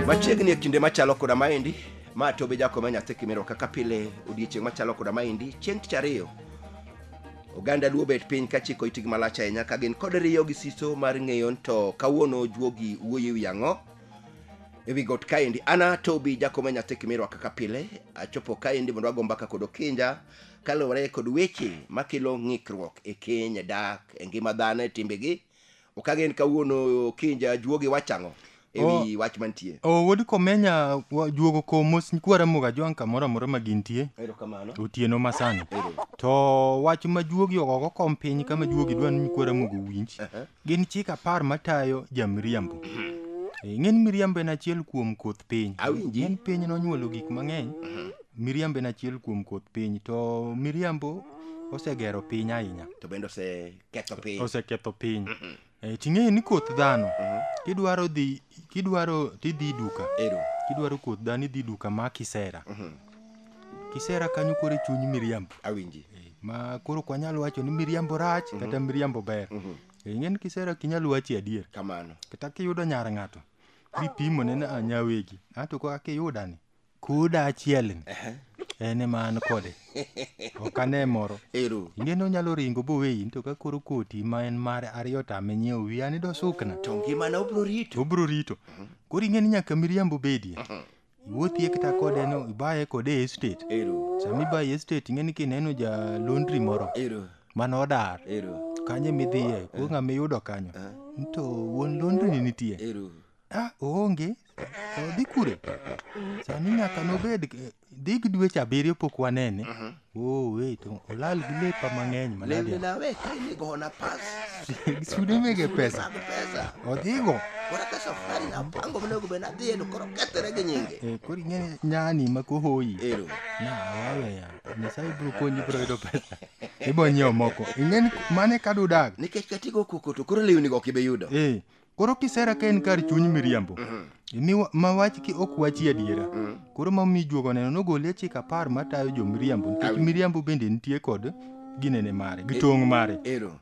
machiegni e kinde machalo koda maendi ma tobe jakome nyathi kimero kaka pile odiechieng' machalo koda maendi chieng' tich ariyo oganda luo bet piny ka chiko itgi malach ahinya ka gin kod riyo gi siso mar ng'eyo ni to kawuono juogi wuoyo e wi ang'o ewi got kaendi ana tobi jakome nyathi kimirwa kaka pile achopo kaendi mondo ago mbaka kod okinja kaluwore kod weche makelo ng'ikruok e keny dak e ngima dhano e timbegi okagen kawuono okinja juogi wachang'o ewi wach mantie o wuod komenya wa- juogo komos kwara moga jwang' kamoro amora ma gintie erokamano otieno masani to wach ma juogi ogogo kom piny kama juogi dwa ni nyikwara mogo winj Gin chik apar matayo jamiriambo. Eh, Ng'en miriambo en achiel kuom koth piny. Awinji. En piny nonyuolo gik mang'eny. Miriambo en achiel kuom koth piny to miriambo osegero piny ahinya. To bende oseketho piny. Oseketho piny. Eh, Ting'eyo ni koth dhano kidwaro dhi kidwaro tidhi duka. Ero. Kidwaro koth dhano idhi duka ma kisera. kisera kanyo koro e chuny miriambo awinji Eh, ma koro ok wanyal wacho ni miriambo rach kata miriambo ber Mhm. Eh, ing'e ni kisera ok inyal wachi adier kamano kata kiyudo nyar ng'ato bipimo ne na nyawegi ato ko akiyuda ni koda achiel ni Ehe. en ema an kode ok ane moro ero ing'e ni onyalo ringo boweyi to ka koro koti ma en mare ariyo tame nyiewo wiye ani dosukna to ngimana obro rito obro rito koro ing'e ni nyaka miriambo bedie iwuothie kata kode no ibaye kode e estate Ero. sama ibaye e estate ing'e ni kineno ja laundry moro Ero. mane odar Ero. kanye midhiye ko ng'ama iyudo kanyo to wuon laundry ni nitie Ero. ah oonge to dhi kure sani nyaka nobed eh, dhi gi dweche abiriyo pok wanene Oh, wait, olal gi lepa mang'eny Lembe malaria. na we ka in go na pass. Sudimege pesa. Mag pesa. Odhigo. Kora ka safari na pango mne go bena dhieno koro kethre gi nyinge. Eh, koro ing'eni nyani ma kohoyi. Ero. Na, waweya. Nyasaye biro konyi biro yudo pesa. Ibiro nyiewo moko. Ing'eni mane ka dudag. Nikech katigo koko to koro lewni go ok ibe yudo. Eh, Koro kisera ka en kar chuny miriambo. Imi wa- ma wach ki ok wachi adiera. Koro ma mi juogo neno nogole chik apar matayo jo miriambo nikech Awi. miriambo bende nitie kod ginene mare gi tong' mare. Ero.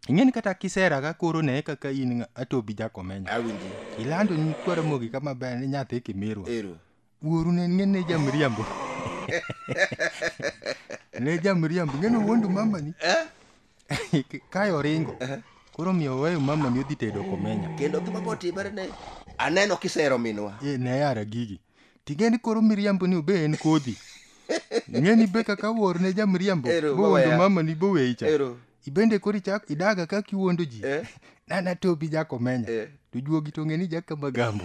Ing'eni kata kisera ka koro ne kaka in ng'a- atobi jakomenyo. Awinji. Ilando ni kwara mogi kama ber ni nyathi kimirwa. Ero. wuoru ne ng'e ne jamriambo ne jamriambo ng'e ni wuondu mamani kae oringo koro miyo weyo mamani odhi tedo komenya kendo gima botimore ne aneno kisero minwa e ne yara gigi ting'e ni koro miriambo ni obe en kodhi ng'e ni be kaka wuor ne jamriambo Ero, bowuondo wawaya. mamani boweyi cha Ero. ibende koro ichak idaga kaka iwuondo ji Eh. nana tobi jakomenya Eh. to juogi to ng'e ni jaka magambo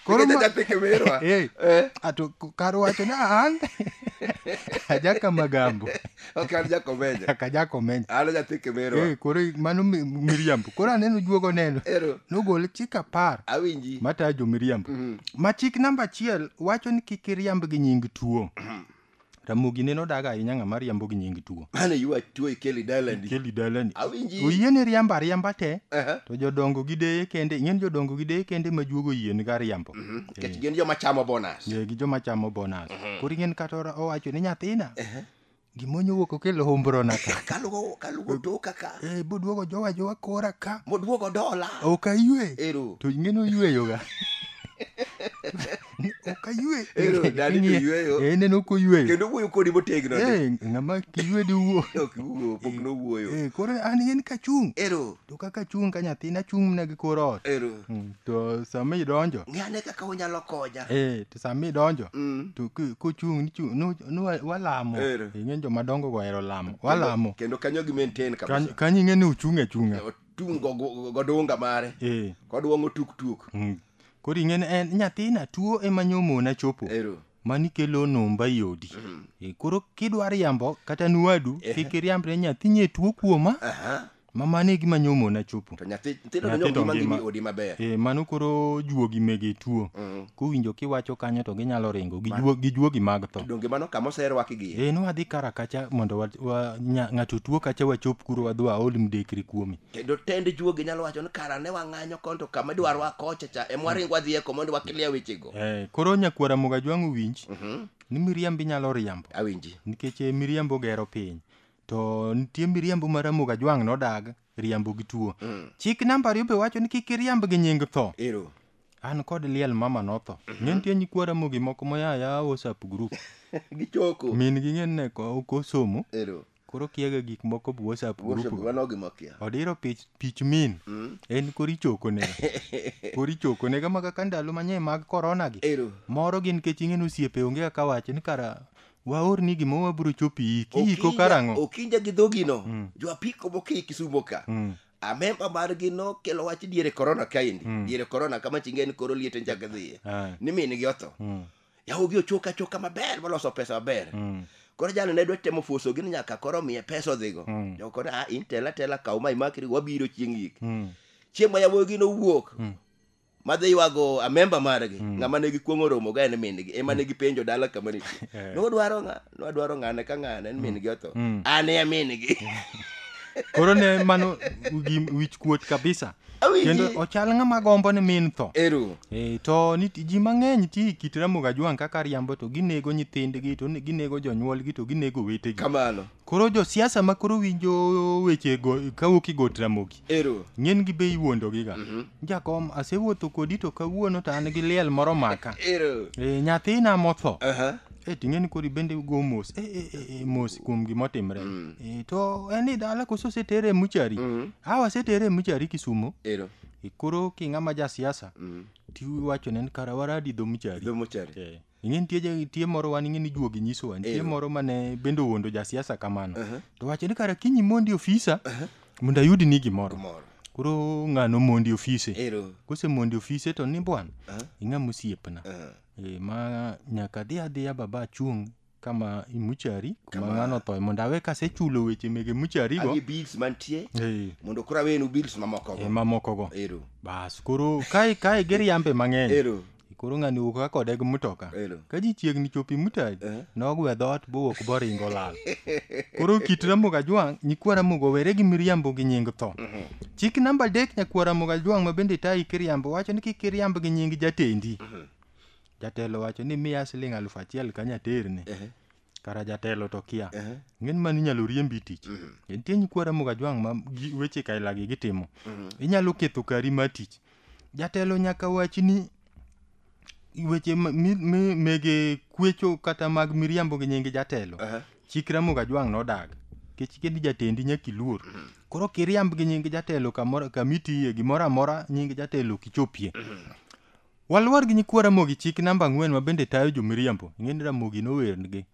Koro ma- Jaja peke merwa. Eh, Eh. ato k- kar wacho ni an ajaka magambo Ok an jakomenya. kaka jakomenya An nyathi Kimerwa. Eh, koro i- mano mi- miriambo koro aneno juogo neno Ero. nogol chik apar Awinji. matayo jomiriambo Mhm. ma chik namba achiel wacho ni kik iriamb gi nying tuo Ramogi neno daga ahinya ng'ama riambo gi nying tuo. Mane yuwa tuo ikeli dalandi. Ikeli dalandi. Awinji. Oyie ni riamba riamba te. Aha. To jodongo gi deye kende, ing'eni jodongo gi deye kende ma juogo yie ni ga riambo. Mhm. Nikech gin joma chamo bonus. Yeah, gi joma chamo bonus. Koro ing'eni kata ora- owacho ni nyathina. Gimonyo wuok okelo hombro na ka. Kalugo kalugo toka ka. Eh, boduogo jowa jowa kora ka. Moduogo dola. Ok aywe. Ero. To ing'eni oyweyoga. ok aywe Ero, dadi to King'iye, yweyo. eh, neno ok oyweyo kendo wuoyo kodi motegno ni Eh, ng'ama kiywe di wuo ok wuo pok nowuoyo Eh, koro an en kachung' ero to kaka achung' ka nyathina achung' mana gi kor ot ero Mm, to sama idonjo ng'e ane kaka unyalo konya eh, to sama idonjo Mm. to ki- kuchung' nichung' nu- nu- wa- walamo Ero. ing'e jomadongo go ohero lamo walamo kendo kanyo gi maintain Kany- kabisa kanyo ing'e ni uchung' achung'a otung' go- go- godunga mare Eh, kodwong'o tuk tuk mm. Koro ing'e ni en nyathina tuo ema nyomona chopo. Ero. Mani kelo numba i odi. E, Koro kidwa riambo kata nwadu kik iriamb ne nyathi nye tuo kuoma Aha. ma mano e gima nyomona chopo. To nyathi nyithindo to Nyithindo nyoma ngima ngima. i odi maber. E, mano koro juogi mege tuo. Mm. Kowinjo kiwacho kanyo to ginyalo ringo gi juo- gi juogi mag tho. Donge mano kama oserwaki gi. E, nwadhi kara kacha mondo wa, wa, nya, ng'ato tuo kacha wachop kuro wadhi waol mdekri kuome. kendo tend juogi nyalo wacho ni kara ne wang'anyo kon to kama idwaro wakocha cha ema waring wadhi eko mondo wakilia wechego Eh, koro nyakwara moga jwang'o winj ni miriambo inyalo riambo awinji nikech eh, miriambo gero piny to nitie miriambo ma ramoga jwang' nodag riambo gi tuo chik namba ariyo be wacho ni kik iriamb gi nying tho ero an kod liel mama notho ne nitie nyikwa ramogi moko moyaya whatsapp group gichoko min gi ng'en ne ko- kosomo ero Koro okiaga gik moko bu WhatsApp group. Worship go. mano gima okia. Odiro pich pich min. En kori choko ne. Kori choko ne kama kaka ndalo manye mag corona gi. Ero. Moro gin kech ing'e ni osiepe onge kaka wacho ni kara waorni gima wabiro chopi iki iko Okinja- karang'o. Okinja gi dhogino. Mm. Jo apiko moki Kisumo ka. Mm. Amemba margi nokelo wach diere corona kaendi. Mm. Diere corona kama chinge en koro liet en chak dhiye. Ah. Ni min gi otho. Mm. yawogi ochok achoka maber moloso pesa maber Mm. koro jalo ne dwa temo fuso gini nyaka koro miye pesa odhigo Mm. jo koro a in tela tela kaw ma imakri wabiro chieng' yik Mm. chieng' ma yawogi nowuok Mm. madhi ywago amemba margi Mm. ng'ama ne gikuong'o romoga en mingi ema ne gipenjo dala kama nitie Eh. nodwaro ng'a nwadwaro ng'ane ka ng'ane en min gi otho Mm. an e min gi koro ne mano gi wich kuot kabisa Awinji. kendo ochal ng'ama gombo ni min tho eru e, to ni ji mang'eny ti kit ramogi ajwang' kaka riambo to ginego nyithindgi to ne- ginego jonyuolgi to ginego wetegi kamano koro josiasa ma koro winjo weche go- kawuok i got ramogi Ero. Ng'en gi bei wuondo giga. Mm -hmm. Jakom asewuotho kodi to kawuono to an gi liel moro maka. Ero. E, nyathina motho. Uh -huh. E, ting'eni kori bende go mos. E, e, e, e mos kuom gima otimre. Mm. E, to en ni dala koso setere muchari. Mm -hmm. Awa setere muchari kisumo. Ero. E, koro king'ama ja siasa. Mm. Tiwacho ne karawaradi dho muchari. Dho muchari. E. ing'e nitie ja- nitie moro wan ing'e ni juogi nyisowa nitie Eyo. moro mane bende owuondo jasiasa kamano Aha. to wacho ni kara kinyi mondi ofisa mondo ayud ni gimoro Gimoro. koro ng'ano mondi ofise Ero. kose mondi ofise to ni bwana Aha. ing'a mosiepna Ah. e, ma nyaka adhi adhiya baba achung' kama imuchari kuma Kama- ng'ano thoe mondo awe kasechulo weche mege mucharigo Abi bills mantie e, mondo koro awenu bills mamoko e, go. mamokogo Ero. bas koro kae kae giriambe mang'eny Ero. Koro ng'ani wuok ka kode gi mtoka. Elo. Ka ji chiegni chopi mutaji, Eh. nogwe dhoot bowuok boringo lal. Koro kit Ramogi Ajwang', nyikwa Ramogi owere gi miriambo gi nying tho. Chik namba adek nyakwa Ramogi Ajwang' ma bende tayi kiriambo wacho ni kik iriamb gi nying jatendi. Jatelo wacho ni miya siling' alufu achiel kanya terne. kara jatelo to kia Ehe. ng'en mani inyalo riembi tich nitie nyikwa ramoga jwang' ma gi- weche kailagi gitimo inyalo ketho kari mar tich jatelo nyaka wachi ni weche ma- mi- mi- mege kwecho kata mag miriambo gi nyingi jatelo Ehe. chik ramoga jwang' nodag kech kendi jatendi nyaka iluor koro kiriamb gi nyingi jatelo kamoro kamitiye gimoro amora nyingi jatelo kichopie Waluor gi nyikwa Ramogi chik namba ang'wen ma bende tayo jomiriambo. Ing'e ni Ramogi nowernigi.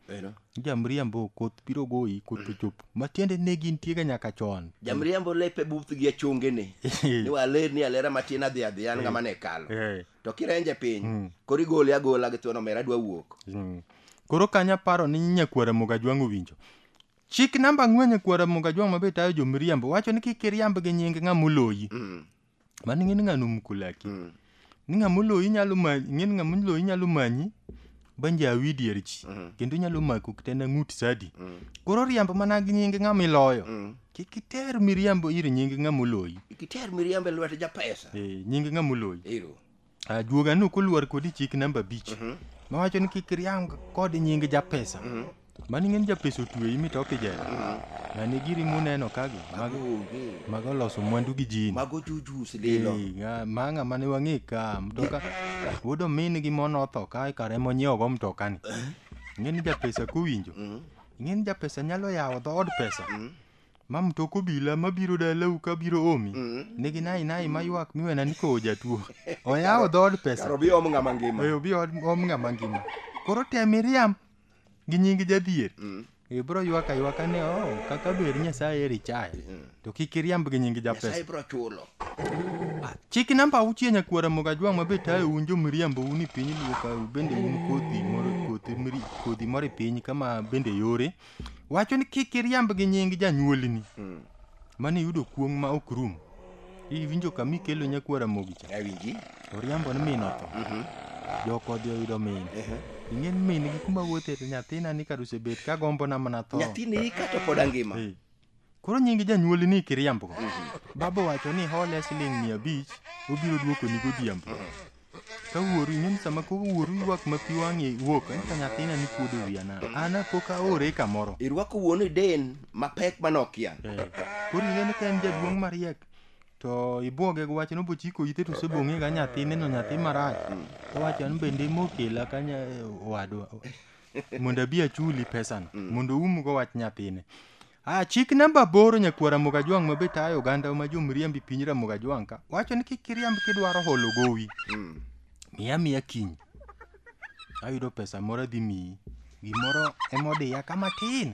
Jamriambo koth biro goyi koth ochop. Matiende ne gintiega nyaka chon. Jamriambo lepe buth gi achongene. Ni waler ni alera matin adhi adhi an ng'ama ne kalo. Eh. To kirenje piny, Mm. koro igole agola gi thuon omera adwa wuok. Mm. Koro kanyo aparo ni nyakwar Ramogi Ajwang' owinjo. Chik namba ang'wen nyakwar Ramogi Ajwang' ma be tayo jomiriambo wacho ni kik iriamb gi nying ng'ama oloyi. Mm. mano ing'e ni ng'ano omuko laki mm. ni ng'ama oloyi nyalo manyi ing'e ni ng'ama oloyi nyalo manyi banje awi dier ji mm. kendo nyalo mako kitena ng'ut sadi mm. koro riambo mana gi nyinge ng'ama iloyo mm. kik iter miriambo ir nyinge ng'ama oloyi kik iter miriambo e lwet japesa e, nyinge ng'ama oloyi Ajuoga ni koluwar kodi chik namba abich mhm. mawacho ni kik riang kod nying japesa mhm. mani ng'eny japesa otweyi mi toke jela mhm. nani giri muneno kagi mago oloso mwandu gi jini mago jujus lilo mang'a mane wang'e ka mtoka wuod omin gi mon otho ka kare monyiewogo mtokani eh? ng'eni japesa kuwinjo ng'eni japesa nyalo yawo dhood pesa Ma mtok obila mabiro dalau ka biro omi nigi nai nai maywak miwena ni kowo jatuo. Oyawo dhood pesa. Kar obi om ng'ama ngima. Oyo bi od- om ng'ama ngima. Koro tem iriam gi nying jadhier. Ibro ywak aywaka ni oh kaka ber Nyasaye eri chaya. To kik iriamb gi nying japesa. Nyasaye bro chulo. Chik namba auchiel nyakwara mogajwang' ma be tayo un jo miriambo un i piny luo ka bende un kodhi moro kodhi miri kodhi moro i piny kama bende yore wacho ni kik iriamb gi nying janyuolni mm. mane yudo kuong' ma ok rum iwinjo kama ikelo nyakwara mogi cha awinji oriambo ni min otho mhm. joko odhi oyudo min ing'e ni min gi kuma wuothe to nyathina ni kar osebet ka gombona mana tho nyathini ika to pod angima Koro nyingi janyuoli ni kiriambo. Baba wacho ni hole siling' mia abich obiro duokoni godhiambo. Ka wuoru ing'e ni sama koro wuoru ywak ma pi wang'e wuok eh, to nyathina ni kuodo wiya na. An pok aore kamoro. Irwako wuonu e den mapek ma nokia. Eh, Koro ing'e ni ka en jaduong' mariek to ibwoge gi wach ni obochiko ite to osebong'ega nyathine no nyathi marach. To wacho an bende mokela kanya owadwa. mondo abi achuli pesano mondo umgo wach nyathine Ah, chik namba aboro nyakuo Ramogi Ajwang' ma be tayo oganda ma jomriambi piny Ramogi Ajwang' ka wacho ni kik iriamb kidwaro holo gowi Mm. miya miya kiny ayudo pesa moro adhi miyi gimoro emodiya ka matin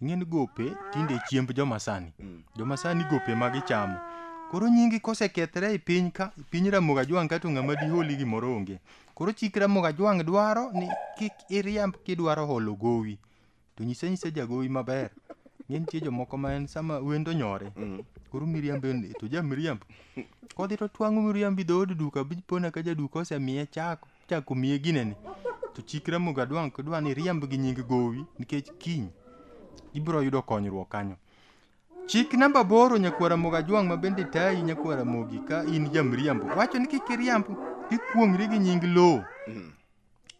ing'e ni gope tinde chiemb joma sani Mm. joma sani gope ma gichamo koro nyingi kosekethre e piny ka piny ramoga jwang' kato ng'ama diholi gimoro onge koro chik ramoga jwang' dwaro ni kik iriamb kidwaro holo gowi to nyise nyise jagowi maber ng'e nitie jomoko ma en sama wendo nyore Mm. koro miriambo en- to ja miriambo kodhi to twang'o miriambo i dhood duka bipona ka jaduka osemiye chako Chako miye gineni to chik Ramogi Adwang' dwa ni riemb gi nying gowi nikech kiny ibiro yudo konyruok kanyo. Chik namba boro nyakwara Ramogi Ajwang' ma bende tayi nyakwara Ramogi ka in jamriambo wacho ni kik iriamb ikuong'ri gi nying lowo. Mm.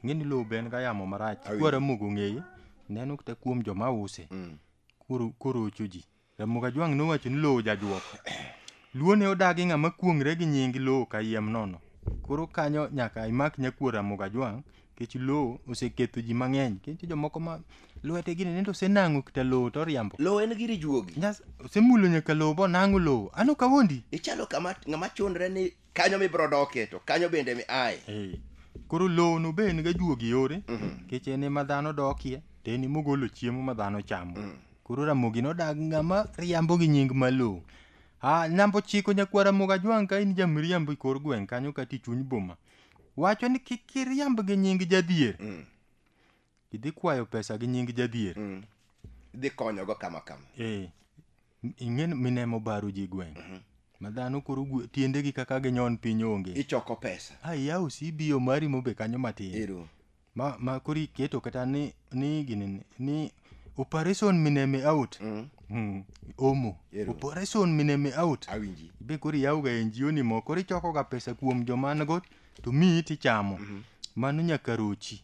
Ng'e ni lowo be en ga yamo marach. Awi. Kwara Ramogi ong'eye neno kata kuom joma use. Mm. Koro koro ocho ji. Ramogi Ajwang' nowacho ni lowo jajuok. Luo ne odagi ng'ama kuong're gi nying lowo kayiem nono. Koro kanyo nyaka imak nyakuo Ramogi Ajwang' nikech lowo oseketho ji mang'eny. Nitie jomoko ma lwete gini nende osenang'o kita lowo to oriambo. Lowo en giri juogi. Nyas osemulo nyaka lowo bonang'o lowo. An ok awondi. Ichalo kama ng'ama chundre ni kanyo mibro doke to kanyo bende mi aye eh. koro lowo no be en ga juogi yore mhm. kech en ema dhano dokie to en ema ogolo chiemo ma dhano chamo mm. koro ramogi nodag ng'ama riambo gi nying ma lowo ah, namba ochiko nyakwa ramogi ajwang' ka in jamiriambo i kor gweng' kanyo kata i chuny boma wacho ni kik iriamb gi nying jadhier mm. Idhi kwayo pesa gi nying jadhier. Mm. Idhi konyogo kama kama. Eh. Ingen minemo baro ji gweng. Mm -hmm. Madhano koro tiende gi kaka ginyon piny onge. Ichoko pesa. Ai yaw CBO mari mobe kanyo matin. Iru. Ma ma kori keto kata ni ni gini ni operation mineme out. Mm. Mm. Omo. Iru. Operation mineme out. Awinji. Be koro yaw ga NGO ni moko koro ichoko ga pesa kuom joman go to miyi tichamo. Mm -hmm. Mano nyaka rochi.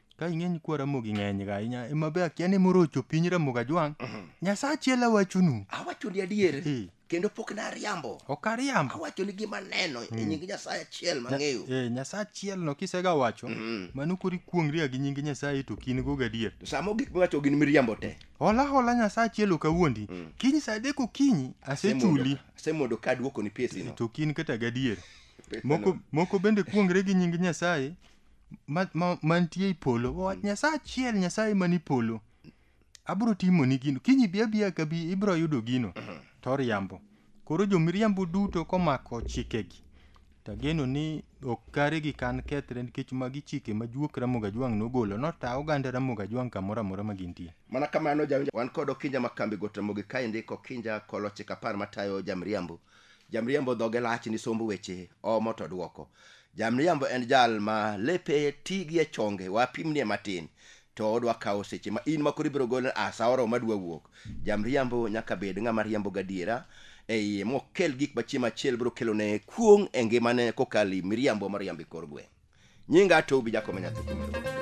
ka ing'eny kwa ramogi ng'eny ga ahinya ema be akia ni morocho piny ramogi ajwang' nyasaye achiel awachonu awacho ni adier Eh. kendo pok nariambo ok ariambo awacho ni gima neno e nying nyasaye achiel mang'eyo Eh, nyasaye achiel no kisega wacho mano kori kuong'ria gi nying nyasaye to kin go gadier to samo gik miwacho gin miriambo te hola hola nyasaye achiel ok awuondi kiny sa adek okinyi asechuli asemondo ka duoko ni pesino to kin kata gadier Pesano. moko, moko bende kuong're gi nying nyasaye ma, ma, mantie i polo wawach nyasaye achiel nyasaye man i polo abiro timoni gino kiny ibi abiya ka bi ibiro yudo gino to oriambo koro jomiriambo duto komako chikegi to ageno ni ok kare gi kan kethre nikech magi chike ma juok ramogi ajwang' nogolo nota oganda ramogi ajwang' kamoro amora ma gintie mana kamano jawinjo wan kod okinja ma kambi got ramogi ka indiko okinja kolochik apar matayo jamriambo Jamriambo dhoge lach ni somb weche, omo to dwoko. Jamriambo en jal ma lepe ti gi e chonge, wapimnie matin, to odwa kawo seche ma in ma koro ibiro gole a sa oromo adwa wuok. Jamriambo nyaka bed ng'ama riambo gadiera e iye mokel gik ma chieng' machielo biro kelone kuong' e ngimane kokalo i miriambo moriambo e kor gweng'. nyinga atou bi jakome nyathi kuom Ruoth.